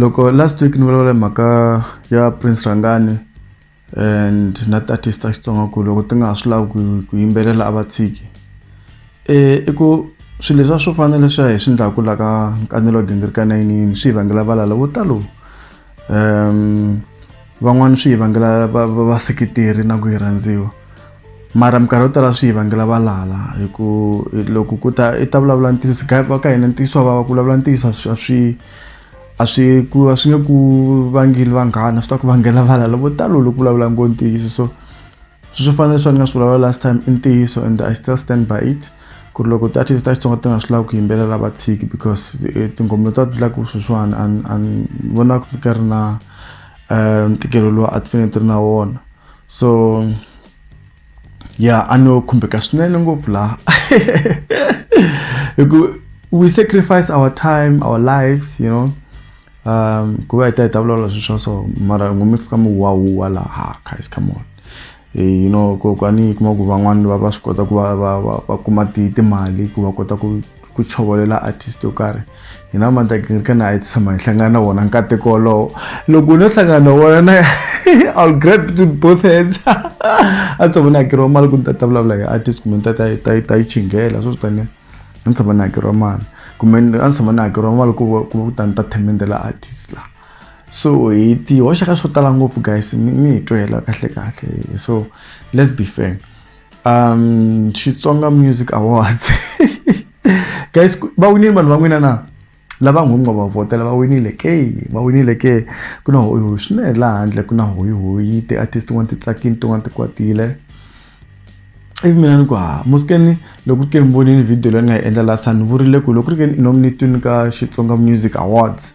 loko last week ni vulavula hi mhaka ya prince rhangani and na tiartist ta xitsonga ku loko ti nga ha swi lavi ku yimbelela a va tshiki um i ku swilo leswiya swo fana leswiya hi swi endlaku la ka nkanelo wa gingirika nayinini swi hi vangela valala vo talo um van'wana swi hi vangela vaseketeri na ku yi rhandziwa mara minkarhi yo tala swi hi vangela valala hi ku loko ku ta i ta vulavula ntiyiso va ka hina ntiyiso wa vava ku vulavula ntiyiso a swi a swi ku a swi nge ku vangeli vanghana swi ta ku vangela valala vo talo loko vulavula ngo ntiyiso so swi fanele swa ni nga swi vulavula last time i ntiyiso and i still stand by it ku ri loko ti-artist ta xitsonga ti nga swi lavi ku yimbelela va tshiki because eh, tinghoma ta ti laku sweswiwani a ni vona ku ka ri na um ntikelo lowu a ti fanele ti ri na wona so ya a no khumbeka swinene ngopfu laha hi ku we sacrifice our time our lives you know um ku va hi ta hi ta vulavula swilo swa so mara ngo mi fika mi wahuwa laha guys come on Eh, you know ko kwani kuma ku van'wani va va swi kota ku va va va va kuma ti timali ku va kota ku ku chovolela artist yo karhi hina mantakirikana a yi tshama hi hlangana na wona nkateko wolowo loko u no hlangana na wona na i'll grab it with both hands a tshovona hakeriwa mali ku ni ta ta vulavula hi artist kumbe ni ta ta ta ta yi chingela swo swi taniya a ni tshama ni hakeriwa mali kumbe a ni tshama ni hakeriwa mali ku ku ku ta ni ta themende la artist la so hi ti hoxa ka swo tala ngopfu guys mi mi hi twela kahle kahle so let's be fair um xitsonga music awards guys va winile vanhu va n'wina na lava nghumi nga va vhotela va winile ke va winile ke ku na hoyihoyi swinene laha handle ku na hoyihoyi ti-artist tin'wana ti tsakile tin'wana ti kwatile ivi mina ni ku ha musikeni loko ke mi vonile video leyi ni nga yi endla last time ni vurile ku loko ri ke nominatini ka xitsonga music awards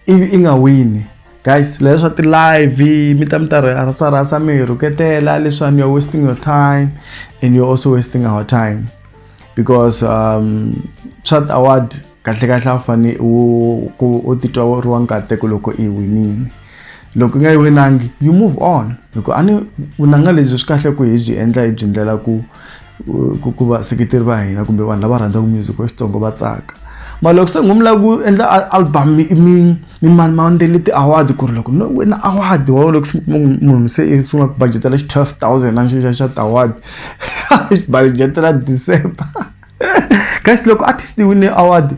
ivi i nga wini guys leswi swa ti-live mi ta mi ta rhasarhasa mi hi rhuketela leswiwani you're wasting your time and you're also wasting our time because um swa award kahlekahle a wu fane u ku u titwa u ri wa nkateko loko i winini loko i nga yi winangi you move on loko a ni vunanga lebyi swi kahle ku hi byi endla hi byi ndlela ku ku ku vaseketeri va hina kumbe vanhu lava rhandzaka music wa xitsongo va tsaka ma loko se ngomla ku endla album mi mi mi mani ma ndele ti-award ku ri loko no wina award wa loko munhu se i sungula ku budgetela xi twelve thousand a ni xi xa xa ti-award xi budgetela December guys loko artist yi wine award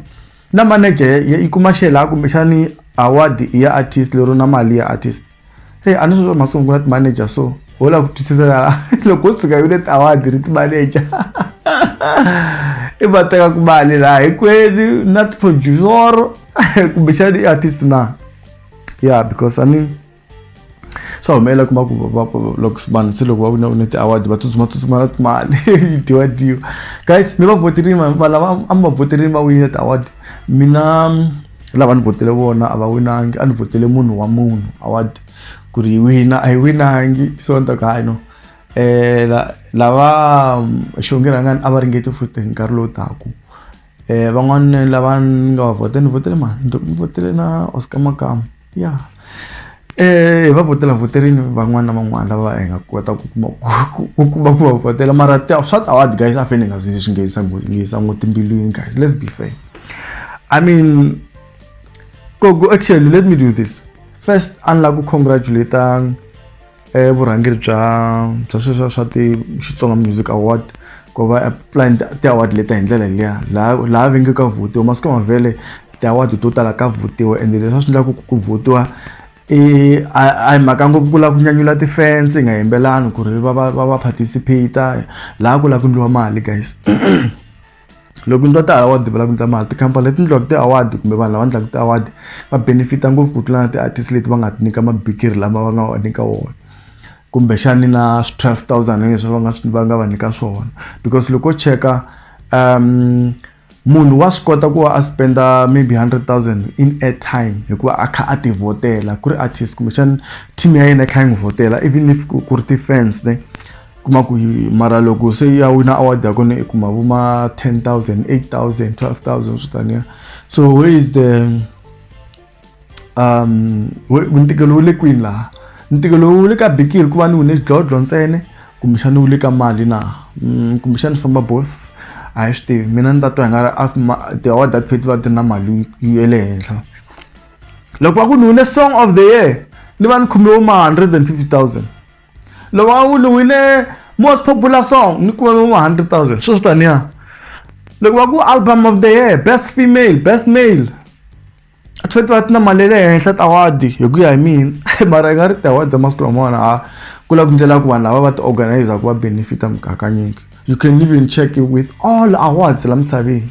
na manager yi kuma xela kumbexani award ya artist lero na mali ya artist hey a ni swi swa masiku ku na ti-manager so ho lava ku twisisa la loko u tshuka yile ti-award ri ti-manager i va teka ku mali laha hinkwenu na ti-producer kumbexani i artist na yeah because i mean swa humelela kuma ku loko vanhu se loko va vona une ti-award va tsutsuma tsutsuma na timali yi dyiwa dyiwa guys mi va voterini vanhu va lava a mi va voterini va winile ti-award mina lava ni votele vona a va winangi a ni votele munhu wa munhu award ku ri yi wina a yi winangi so ni ta ku hayi no eh la- lava xonge rhangani a va ringeti futhi hi nkarhi lowu taku eh van'wana lava ni nga va votela ni votele mani ni to- ni votele na oscar makamu ya eh, hi va votela voterini van'wana na van'wana lava hi nga kota ku kuma ku kuma ku va votela mara swa tawadi guys a fane hi nga swi swi nghenisa nghenisa ngo timbilwini guys let's be fair i mean go go actually let me do this first a ni lava ku congratulate i vurhangeri bya bya sweswiya swa ti Xitsonga Music Award ku va apply ti-award leti hi ndlela liya laha laha va nge ka vhutiwa masiku ma vhele ti-award to tala ka vhutiwa ende leswi a swi endlaku ku vhutiwa i a a hi mhaka ngopfu ku lava ku nyanyula ti-fans hi nga yimbelani ku ri va va va va participate-a laha ku lava ku endliwa mali guys loko ndzi va ti-award va lava ku endla mali tikhampani leti endliwaka ti-award kumbe vanhu lava endlaka ti-award va benefit-a ngopfu ku tlula na ti-artist leti va nga ti nyika mabikiri lama va nga va nyika wona kumbexani na swi twelve thousand leswi va nga swi va nga va nyika swona because loko cheka um munhu wa swi kota ku va a spenda maybe hundred thousand in airtime hikuva a kha a ti vhotela ku ri artist kumbexani team ya yena yi kha yi n'wi vhotela even if ku ri ti-fans ne. kuma ku mara loko se ya wina award ya kona i kuma vo ma 10000 8000 12000 swo taniya so where is the um ntikelo wu le kwini laha ntikelo wu le ka bikiri ku va ni wine xidlodlo ntsene kumbexani wu le ka mali na mm, kumbexani swi famba both a hi swi tivi mina ni ta twa hi nga ri ti-award that feti va ti na mali ya le henhla loko va ku ni wine song of the year ni va ni khome vo ma 150000 loko a wu luwile most popular song ni kume vo 100000 sweswi taniya loko va ku album of the year best female best male a tshwanetse va ti na mali ya le henhla tawadi hi ku ya hi mina mara i nga ri tawadi ta masiku lamawani a ku lava ku ndlela ku vanhu lava va ti organizer ku va benefita mugakanyingi you can even check it with all awards la misaveni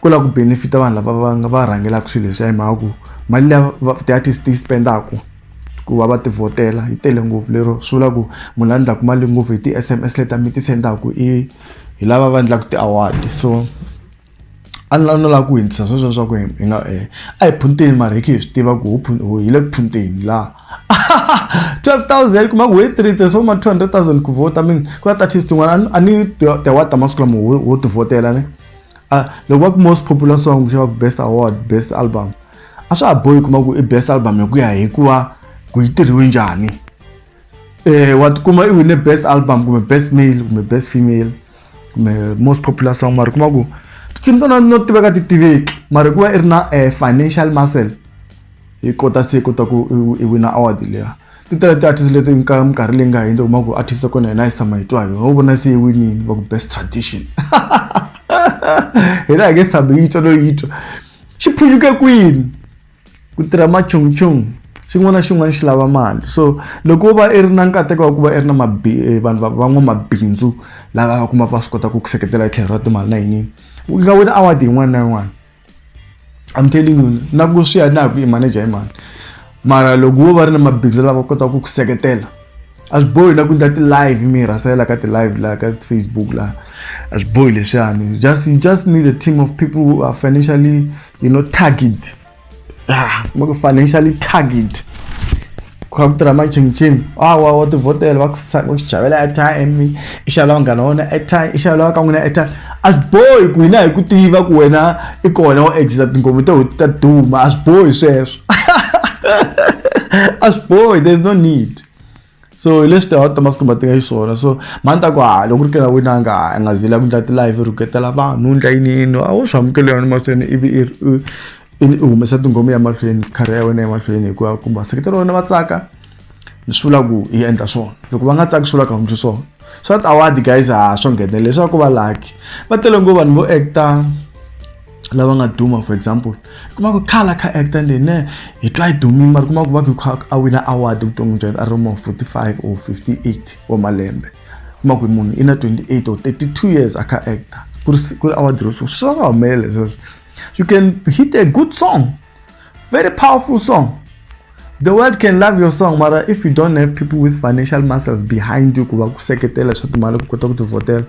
ku lava ku benefita vanhu lava va nga va rhangelaka swilo leswiya hi mhaka ku mali leya ti-artist ti yi spendaku ku va va ti vhotela yi tele ngopfu lero swi vula ku munhu la endlaku mali ngopfu hi ti-S_M_S leti mi ti sendaku i hi lava va endlaku ti-award so a ni la no lava ku hundzisa sweswo swa ku hi hi nga a hi phunteni mara hi khe hi swi tiva ku ho hi le ku phunteni la twelve thousand kuma ku hi three tirhisa ma two hundred thousand ku vhota mi ku na ti-artist tin'wana a ni ti-award ta masiku lama ho ho ti vhotela ne. a ah, loko va ku most popular song kumbe va ku best award best album a swa ha bohi kuma ku i best album hi ku ya hi ku va ku yi tirhiwe njhani um wa tikuma i wine best album kumbe best male kumbe best female kumbe most popular song mara kuma ku tinsimu tona no tiveka ti tiveki mara hikuva i ri na um financial muscle yi kota se kota ku i wina award leya ti tele ti-artist leti ka minkarhi leyi nga hundza kuma ku artist ya kona yena yi sama hi twa hi ho vona se yi winini va ku best tradition hina hi nge sami yi twa no yi twa xi phunyuke kwini ku tirha machungchung xin'wana na xin'wana xi lava mali so loko va i ri na nkateko wa ku va i ri na mabi eh, vanhu van'wamabindzu lava va kuma va swi kota ku ku seketela hi tlhelo ra timali na yinini u nga wina award yin'wana na yin'wana I'm telling you na ku swi ya na ku i manager hi mani mara loko wo va ri na mabindzu lava kotaka ku ku seketela a swi bohi na ku endla ti-live mi rhasela ka ti-live laha ka facebook laha a swi bohi leswiyani just you just need a team of people who are financially you know target ah, financially target kha ku tirha majimjim awa wa tivhotela va ku va ku javela airtime i xavela vanghana wona airtime i xavela ka n'wina airtime a swi bohi ku hina hi ku tiva ku wena i kona wo exisa tingomo to ta duma a swi bohi sweswo a swi bohi there is no need so hi leswi tihawu ta masiku ma tiva xiswona so mani ta ku ha loko ku ri kena wena nga a nga zila ku ndla ti-live rhuketela vanhu ndla yiniyini a wu swi amukeli yona mahlweni ivi i i ni u humesa tingomo ya mahlweni khari ya wena emahlweni hikuva kumbe vaseketeri wena va tsaka ni swi vula ku yi endla swona loko va nga tsaki swi vula ka hundzi swona so that award guys ha swo nghenele leswaku va lucky va tele ngo vanhu vo actor lava nga duma for example kuma ku khala kha actor leyi ne hi twa yi dumile mara kuma ku va ku kha a wina award vuton'wini bya yena a ri mo 45 or 58 wa malembe kuma ku munhu i na 28 or 32 years a kha actor ku ri ku ri award ro swi swi nga humelela sweswo You can hit a good song, very powerful song. The world can love your song, mara if you don't have people with financial muscles behind you kuba kuseketela swa timali ku kota ku tivhotela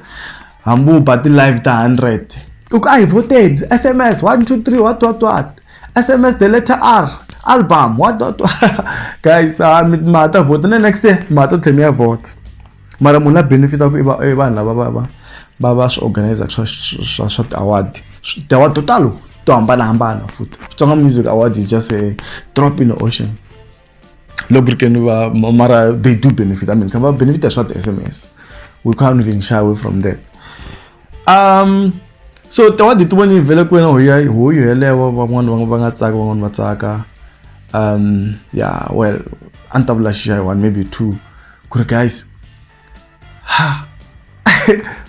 hambi u ba ti-live ta 100 u ku a hi voteni sms 123 what what what sms the letter r album what what guys ah, mi ta vhota na next year mi ta tlhe mi ya vhota mara munhu la benefitaku i i vanhu lava va va va va swi organizaka swa swa swa ti-award ti-award to talo to hambanahambana futhi Xitsonga Music Award is just a drop in the ocean loko ri keni va mara they do benefit I mean kha va benefita swa ti-sms we can't even shy away from that um so tawadi ti voni yi vhele ku wena hoya hoyo yelewo van'wana va nga tsaka van'wana va tsaka um yeah well a ni ta vula xixa hi one maybe two ku ri guys ha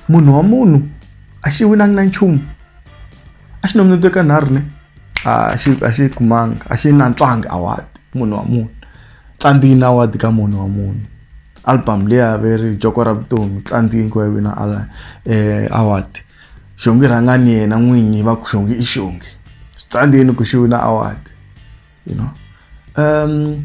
munhu wa munhu a xi winangi na nchumu a xi nominate ka nharhu ne a xi a xi kumanga a xi nantswangi award munhu wa munhu tsandzini award ka munhu wa munhu album leyi averi joko ra vutomi tsandzini ku ya wina eh, award xongi rhangani yena n'winyi va ku xongi i xongi swi tsandzini ku xi wina award you know um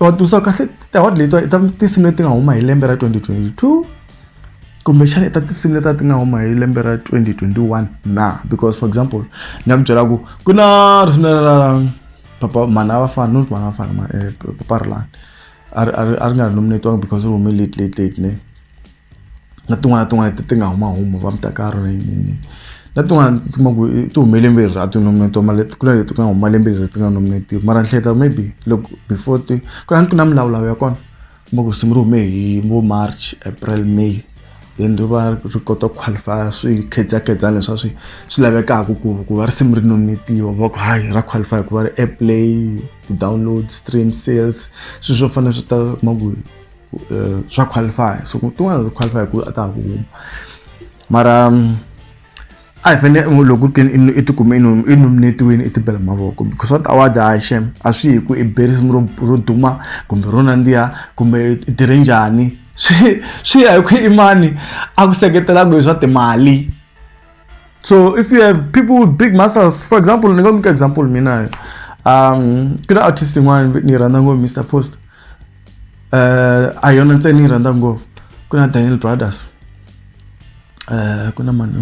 watusa kahle award leyi i ta tinsimu leti nga huma hi lembe ra 2022 kumbexana i ta tinsimu leti a ti nga huma hi lembe ra 2021 na because for example ni ya ku byela ku ku na risimu ra papa mana va fana not mana va fana eh, papa rilani a ri a ri a ri nga ri nominatiwanga because ri hume late late late ne na tin'wana na tin'wana ti ti nga huma huma va mutakalo na yini yini na tin'wana ti kuma ku ti hume lembe leri a ti nominate-wa mara leti ku na leti nga huma lembe leri ti nga nominate-iwi mara ni hleketa maybe loko before ti ku na ni ku na milawulawu ya kona kuma ku risimu ri hume hi vo march april may then ri va ri kota ku qualify-a swi khedzakhedzani leswa swi swi lavekaka ku ku va risimu ri nominate-iwa va ku hayi ra qualify hikuva ri airplay ti-download stream sales swi swo fana swi ta kuma ku. eh, swa qualify so tin'wana swa qualify ku a ta ha ku huma mara mm, a hi fanele mm, loko ku ri i tikume i nominetiwini i tibela mavoko because what award hayi shem a swi hi ku i berisimu ro ro duma kumbe ro nandziha kumbe i tirhe njhani swi swi ya hi ku imani a ku seketelaka hi swa timali so if you have people with big muscles for example ni nga nyika example mina um ku na artist yin'wana ni rhandza ngopfu mr post uh, a yona ntsena ni rhandza ngopfu ku na daniel brothers uh, ku na mani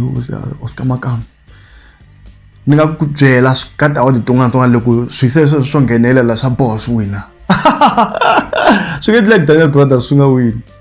oscar makama ni nga ku byela ka ta odi tin'wana tin'wana loko swi se sweswo swo nghenelela swa boha swi wina swi nge endleki daniel brothers swi nga wini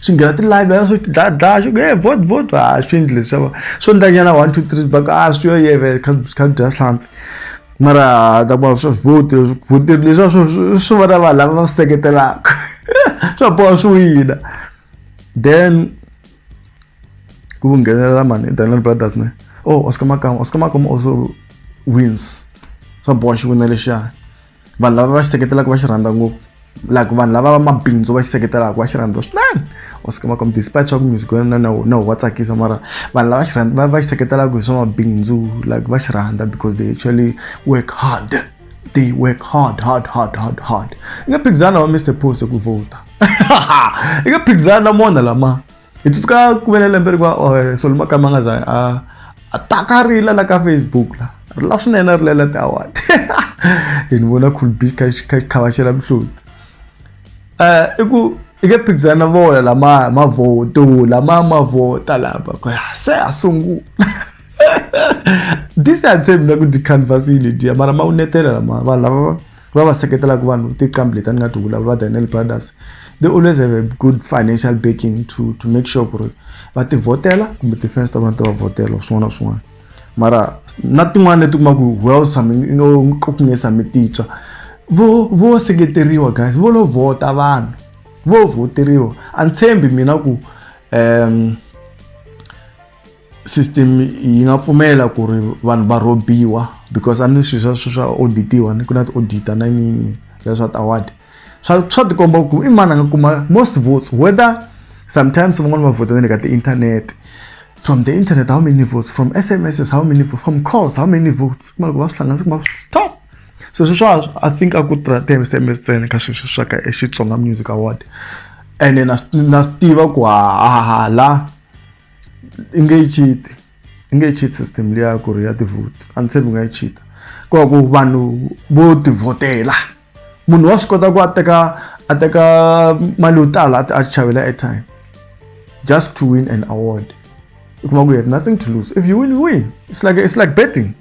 swi nghena ti-library swi dlaya dlaya swi nge vot vot a swi endli leswiwa swo ndlanyana one two three baka a swi yo yeve kha kha dya hlampfi mara ta kuma swi vote leswi vote leswiwa swi swi vona vanhu lava va swi seketelaka swa boha swi wina then ku nghenelela mani Daniel Brothers ne oh Oscar Makama Oscar Makama also wins swa boha xi wina lexiya. vanhu lava va xi seketelaka va xi rhandza ngopfu like vanhu lava va mabindzu va xi seketelaka va xi rhandza swinene wa swi kuma despite swa ku music wa na na wa tsakisa mara vanhu lava xi rhandza va xi seketelaka hi swa mabindzu like va xi rhandza because they actually work hard they work hard hard hard hard hard i nga phikizana wa mr post hi ku vhota i nga phikizana na mona lama hi tsutsuka ku vele lembe ri va solo makama nga za a a taka ri la la ka facebook la ri la swinene ri lela ti-award hi ni vona cool beach kha kha khavaxela mihloti um i ku i ke phikizana na vona lama mavoto lama mavota lama ku se a sungula this a tshembi na ku dikhanvasile dya mara ma wu netela lama vanhu lava va va seketelaka vanhu tiqambi leti a ni nga ti vulavula daniel brothers they always have a good financial backing to, to make sure ku ri va ti vhotela kumbe ti-fans ta vona ti va vhotela swin'wana na swin'wana mara na tin'wana leti kuma ku well nge sami titswa vo vo seketeriwa guys vo lo vhota vanhu vo vhoteriwa a ni tshembi mina ku um system yi nga pfumela ku ri vanhu va rhobiwa because a ni swilo swa swa auditiwa ni ku na ti-auditor na yiniyini ya swa ti-award swa swa tikomba ku i mani a nga kuma most votes whether sometimes van'wani va vhota na le ka ti-internet from the internet how many votes from sms how many votes from calls how many votes kuma loko va swi hlanganisa kuma top so sweswo i think a ku tirha ti-sms ntsena ka sweswo swa ka xitsonga music award ene na na swi tiva ku hahala i nge yi cheat i nge yi cheat system liya ku ri ya ti-vote a ni tshembi u nga yi cheat ku va ku vanhu vo tivhotela munhu wa swi kota ku a teka a teka mali yo tala a chavela airtime just to win an award u kuma ku you have nothing to lose if you win you win it's like it's like betting.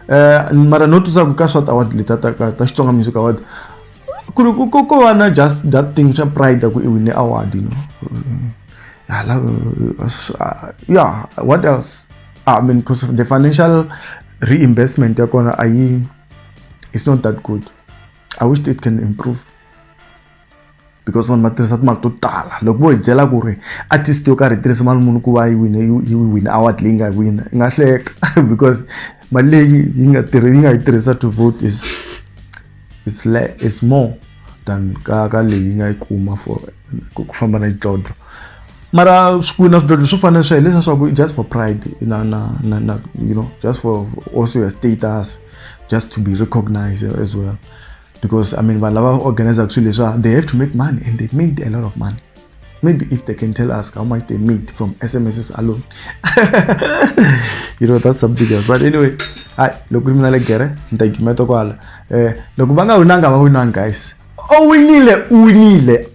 eh, mara not swa ku ka swat award leta ta ka ta xitsonga music award ku ri ko ko va na just that thing swa pride ku i wine award you know I love, uh, yeah what else i mean because the financial reinvestment ya kona a yi it's not that good i wish it can improve because vanhu va tirhisa timali to tala loko vo hi byela ku ri artist yo karhi yi tirhisa mali muni ku va yi wine yi wine award leyi nga wina yi nga hleka because mali leyi yi nga tirhi yi nga yi tirhisa to vote is it's le it's more than ka ka leyi yi nga yi kuma for ku famba na xidlodlo mara swikwini na swidlodlo swo fana sweswo leswi swa ku just for pride na na na na you know just for also your status just to be recognized as well because i mean vanhu lava organizaka swilo leswa they have to make money and they made a lot of money maybe if they can tell us how much they made from smss alone you know that's something else but anyway hayi loko ri mina le gere ni ta gimeta kwala um loko va nga winanga va winanga guys o winile u winile